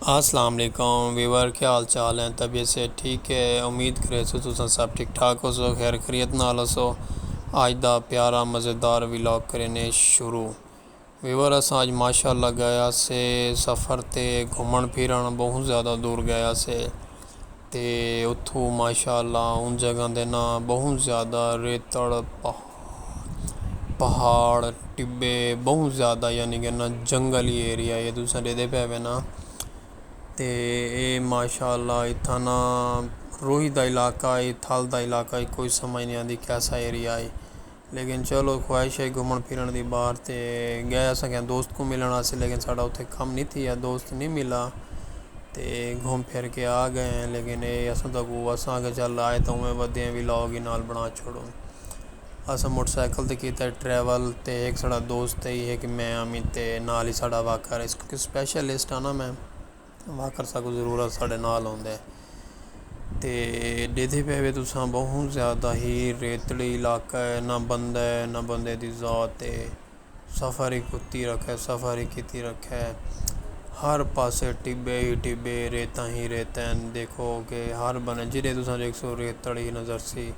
السلام علیکم ویور کیا حال چال ہیں طبیعت صحت ٹھیک ہے امید کریسوں تساں سب ٹھیک ٹھاک ہوسو خیر خریت نال ہوسو اج دا پیارا مزیدار ولاگ کرینے شروع ویور اساں اج ماشاءاللہ گئے ہاسے سفر تے گھمن پھرن بہوں زیادہ دور گئے ہاسے تے اتھو ماشاء اللہ اوں جگہ دے ناں بہوں زیادہ ریتڑ پہاڑ ٹبے بہوں زیادہ یعنی کہ نہ جنگلی ایریا ہے تساں ݙیکھدے پئے وے ناں تے اے ماشاء اللہ اتھاں نا روہی دا علاقہ ہے تھل دا علاقہ ہے کوئی سمجھ نی آندی کیسا ایریا ہے لیکن چلو خواہش ہئی گھمنڑ پھرنڑ دی باہر تے گئے اساں کہیں دوست کوں ملنڑ واسطے لیکن ساڈا اتھے کم نی تھیا دوست نی ملا تے گھم پھر کے آ گئے ہیں لیکن اے اساں تاں کو اساں آکھیا چل آئے تاں اوویں ودھے ہیں ولاگ ای نال بنڑا چھوڑوں اساں موٹر سائیکل تے کیتا ہے ٹریول تے ہک ساڈا دوست ہئی ہک میں ہاں میں تے نال ہی ساڈا واکر ہئی کیونکہ سپیشلسٹ آں نا میں۔ واکر ساکوں ضرورت ساڈے نال ہوندے تے ڈیدھے پئے وے تساں بہوں زیادہ ہی ریتڑی علاقہ ہے نہ بندہ ہے نہ بندے دی ذات ہے سفر ہی کتی رکھے سفر ہی کتی رکھے ہر پاسے ٹبے ہی ٹبے ریتاں ہی ریتاں ہیں دیکھو کہ ہر بندے جیڑھے تساں دیکھ سو ریتڑی نظر سی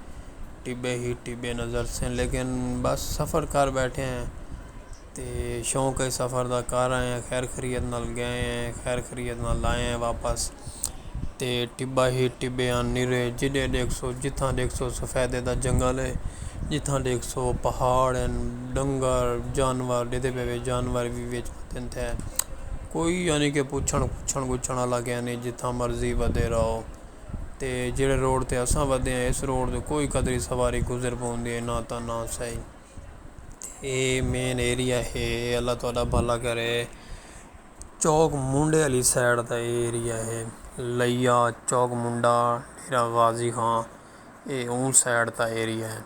ٹبے ہی ٹبے نظر سن لیکن بس سفر کر بیٹھے ہیں تے شوق اے سفر دا گھر آئے آں خیر خریت نال گئے آں خیر خریت نال آئے آں واپس تے ٹبا ہی ٹبے آن نیرے جڈے ڈیکھ سو جتھاں ڈیکھ سو سفیدے دا جنگل اے جتھاں ڈیکھ سو پہاڑ ہن ڈنگر جانور ڈیدھے پے وے جانور وی وچ ودھن تھے کوئی یعنی کہ پچھن گچھن گچھن والا گئے نہیں جتھاں مرضی ودھے رہو تے جیڑھے روڈ تے اساں ودھے ہیں اس روڈ تے کوئی قدری سواری گزر پوندی ہے نہ تاں نہ سہی اے مین ایریا ہے اللہ تہاڈا بھلا کرے چوک منڈے آلی سائیڈ دا اے ایریا ہے لیا چوک منڈا ڈیرہ غازی خان اے اوں سائیڈ دا ایریا ہے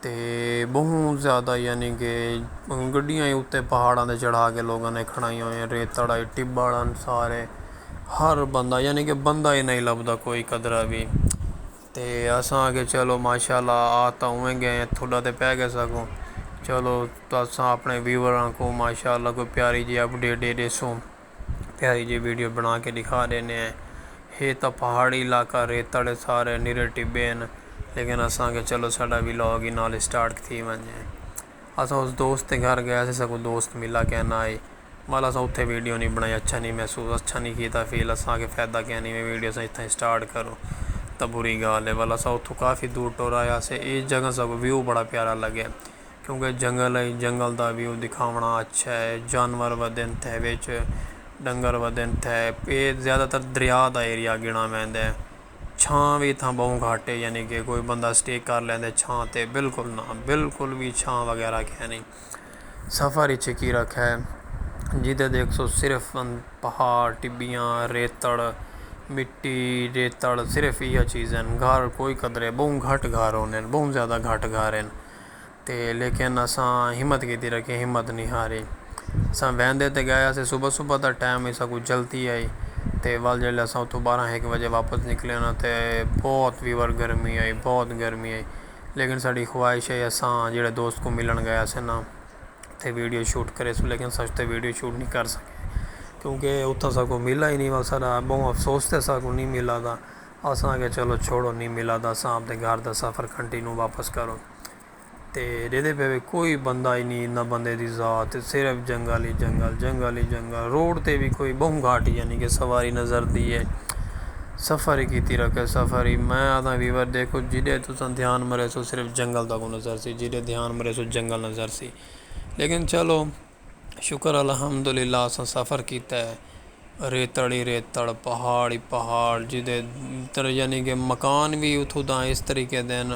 تے بہوں زیادہ یعنی کہ گڈیاں ہی اتے پہاڑاں تے چڑھا کے لوگاں نے کھڑائیاں ہوئیاں ریتڑ آئی ٹبہ ہن سارے ہر بندہ یعنی کہ بندہ ہی نہیں لبھدا کوئی قدرہ بھی تے اساں آکھیا چلو ماشاءاللہ آ تاں اوویں گئے ہیں تھڈا تے پے گئے ساکوں چلو تساں اپنے ویور آں کوں ماشاءاللہ کوئی پیاری جی اپ ڈیٹ ڈے ڈیسوں پیاری جی ویڈیو بنا کے ڈکھا ڈینے ہیں ہے تاں پہاڑی علاقہ ریتڑے سارے نرے ٹبے ہیں لیکن اساں آکھیا چلو ساڈا ولاگ ہی نال سٹارٹ تھی ونجے۔ اساں اس دوست دے گھر گئے اسیں ساکوں دوست ملا کئے نہ آئی ول اساں اتھے ویڈیو نی بنائی اچھا نی محسوس اچھا نی کیتا فیل اساں آکھے فیدہ کئے نی میں ویڈیو اساں اتھاں ہی سٹارٹ کروں تاں بری گال ہے ول اساں اتھوں کافی دور ٹر آئے ہاسے اے جگہ ساکوں ویو بڑا پیارا لگے کیونکہ جنگل ہے جنگل دا ویو دکھاونڑاں اچھا ہے جانور ودھن تھے وچ ڈنگر ودھن تھے اے زیادہ تر دریا دا ایریا گنڑاں ویندے۔ چھاں وی اتھاں ٻہوں گھٹ ہے یعنی کہ کوئی بندہ اسٹے کر لیندے چھاں تے بالکل نہ بالکل وی چھاں وغیرہ کھے نی سفر اچ کی رکھے جیتے دیکھ سو صرف پہاڑ ٹبیاں ریتڑ مٹی ریتڑ صرف ایہا چیزیں گھر کوئی قدرے ٻہوں گھٹ گھر ہوندے ٻہوں زیادہ گھٹ گھر ہیں تے لیکن اساں ہمت کیتی رکھیں ہمت نی ہاری اساں ویندے تے گئے اساں صبح صبح دا ٹائم ہی ساکوں جلدی آئی تے ول جیلے اساں اتھوں بارہ ہک وجے واپس نکلے انہاں تے بہت ویور گرمی آئی بہت گرمی آئی لیکن ساڈی خواہش ہے اساں جیڑے دوست کوں ملن گئے اساں نا تے ویڈیو شوٹ کرے سوں لیکن اساں اتھے ویڈیو شوٹ نی کر سکے کیونکہ اتھاں ساکوں ملا ہی نی ول ساڈا بہوں افسوس تھے ساکوں نی ملا دا اساں آکھیا چلو چھوڑو نی ملا دا اساں آپدے گھر دا سفر کنٹینو واپس کروں تے ڈیدھے پے وے کوئی بندہ ای نی نہ بندے دی ذات صرف جنگل ای جنگل جنگل ای جنگل روڈ تے وی کوئی بہوں گھٹ یعنی کہ سواری نظر دی اے سفر ای کیتی رکھے سفر ای میں آکھداں ویور دیکھو جیڈے تساں دھیان مریسو صرف جنگل تکوں نظر سی جیڈے دھیان مریسو جنگل نظر سی لیکن چلو شکر الحمدللہ اساں سفر کیتا ہے ریتڑ ہی ریتڑ پہاڑ ہی پہاڑ جدے تر یعنی کہ مکان بھی اتھوں دا اس طریقے دے ہن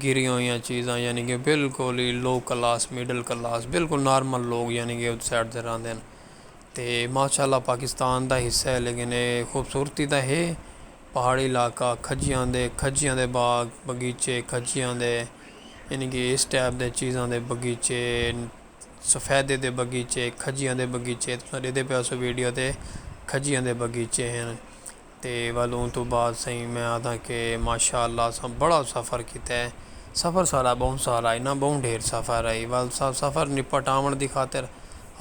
گری ہوئیاں چیزاں یعنی کہ بالکل ہی لو کلاس مڈل کلاس بالکل نارمل لوگ یعنی کہ اس سائڈ دے رہندے ہن تے ماشاء اللہ پاکستان دا حصہ ہے لیکن اے خوبصورتی دا ہے پہاڑی علاقہ کھجیاں دے کھجیاں دے باغ بغیچے کھجیاں دے یعنی کہ اس ٹائپ دے چیزاں دے بغیچے سفیدے دے بغیچے، کھجیاں دے بغیچے تساں ݙیدھے پئے ہوسو ویڈیو تے کھجیاں دے بغیچے ہن تے ول اوں توں بعد سئیں میں آہدھاں کہ ماشاء اللہ اساں بڑا سفر کیتا ہے سفر سارا ٻہوں سارا انہاں ٻہوں ڈھیر سفر ہئی ول سا سفر نپٹ آوݨ دی خاطر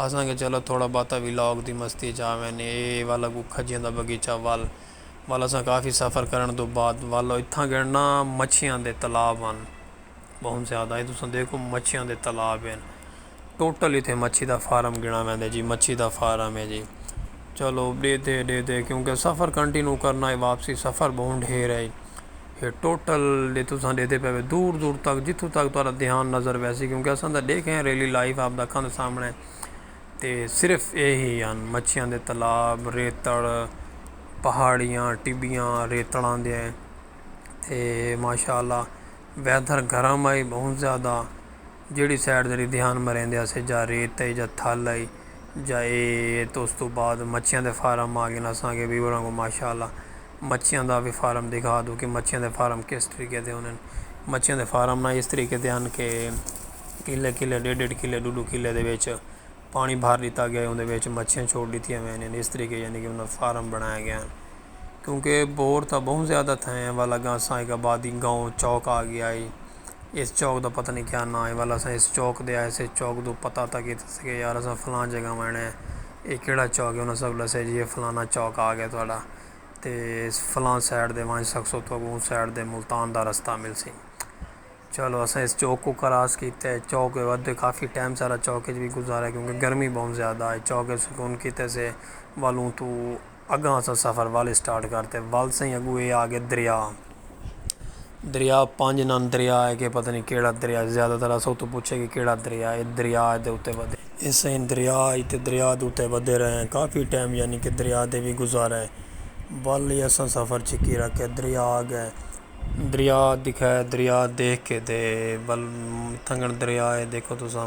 آہدھاں کہ چلو تھوڑا بہتا ولاگ دی مستی اچ آ ویندے اے ول اڳوں کھجیاں دا بغیچہ ول ول اساں کافی سفر کرݨ توں بعد ول اتھاں گݙݨا مچھیاں دے تالاب ہن بہت زیادہ ہے تساں دیکھو مچھیاں دے تالاب ہیں ٹوٹل اتنے مچھی دا فارم گنا ویندا جی مچھی دا فارم ہے جی چلو ڈے دے ڈے دے کیونکہ سفر کنٹینیو کرنا ہے واپسی سفر بہت ڈھیر ہے یہ ٹوٹل ڈے تساں ڈے دے پہلے دور دور تک جتھوں تک تارا دھیان نظر ویسی کیونکہ اساں دا دیکھے ہیں ریلی لائف آپ دا کھان سامنے تے صرف یہ ہی ہیں مچھیاں دے تالاب ریتڑ پہاڑیاں ٹبیاں ریتڑاں دے ہیں تے ماشاء اللہ ویدھر گرم ہئی بہت زیادہ جیڑھی سائڈ تیݙی دھیان مریندے اسے جا ریت ہئی جا تھل ہئی جا اے تے اس توں بعد مچھیاں دے فارم آ گئے نا اساں کے ویور آنگوں ماشاء اللہ مچھیاں دا وی فارم دکھا دو کہ مچھیاں دے فارم کس طریقے دے ہوندے مچھیاں دے فارم نا اس طریقے دے ہن کہ کلے کلے ݙیڈھ ݙیڈھ کلے ݙو ݙو کلے دے وچ پاݨی بھر ݙتا ڳیا ہے اوندے وچ مچھیاں چھوڑ ݙتیاں ویندین اس طریقے یعنی کہ انہاں فارم بݨائے ڳئے ہن کیونکہ بور تاں بہوں زیادہ تھے ہیں ول اگاں اساں ہک آبادی گاؤں چوک آ گیا ہی اس چوک دا پتہ نہیں کیا نا ہے ول اساں اس چوک دے آئے سے چوک دو پتہ تھا کہ یار اساں فلاں جگہ وینا ہے یہ کیڑا چوک ہے انہاں سا کو ڈسے جی یہ فلانا چوک آ گیا تہاڈا تے فلاں سائڈ دے ونج سکسو تو اگوں سائڈ دے ملتان دا رستہ مل سی چلو اساں اس چوک کو کراس کیتے چوک دے ودے کافی ٹائم سارا چوک اچ بھی گزارا کیونکہ گرمی بہوں زیادہ ہے چوک سکون کیتے سے ولوں تو اگاں اساں سفر ول اسٹارٹ کر تے ول سئیں اگوں اے آ گئے دریا دریا پنج نان دریا ہے کہ پتہ نہیں کیڑا دریا زیادہ تر اساں اتوں پوچھے کہ کیڑا دریا ہے دریا دے اتے ودے اے سئیں دریا اتے دریا دے اتے ودے رہے ہیں کافی ٹائم یعنی کہ دریا دے بھی گزارے ول ہی اساں سفر چھکی رکھے دریا آ گئے دریا دکھائے دریا دیکھ کے تے ول تھنگن دریا ہے دیکھو تساں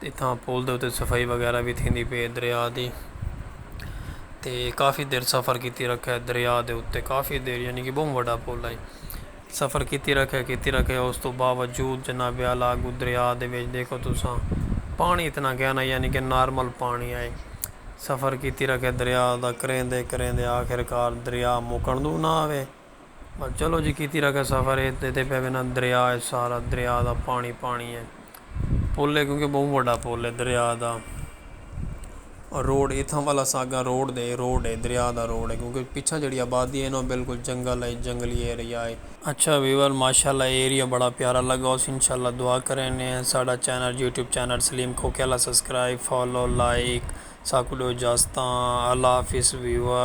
تے اتھاں پل دے اتے صفائی وغیرہ وی تھیندی پئی ہے دریا دی تے کافی دیر سفر کیتی رکھے دریا دے اتے کافی دیر یعنی کہ بہوں وڈا پل ہے سفر کیتی رکھے کیتی رکھے اس تو باوجود جناب اعلیٰ اگو دریا دے وچ دیکھو تساں پانی اتنا گہرا یعنی کہ نارمل پانی ہے سفر کیتی رکھے دریا دا کریندے کریندے آخر کار دریا مکن دو نہ آوے بس چلو جی کیتی رکھے سفر اے تے پہ وینا دریا اے سارا دریا دا پانی پانی اے پل اے کیونکہ بہوں وڈا پل اے دریا دا روڈ اتھاں والا ساگا روڈ دے روڈ اے دریا دا روڈ اے کیونکہ پچھا جڑی آبادی اے نا بالکل جنگل اے جنگلی ایریا اے۔ اچھا ویور ماشاءاللہ اے ایریا بڑا پیارا لگا اس انشاءاللہ دعا کرینے ہیں ساڈا چینل یوٹیوب چینل سلیم کھوکھے والا سبسکرائب فالو لائک ساکوں ڈیو اجازتاں اللہ حافظ ویور۔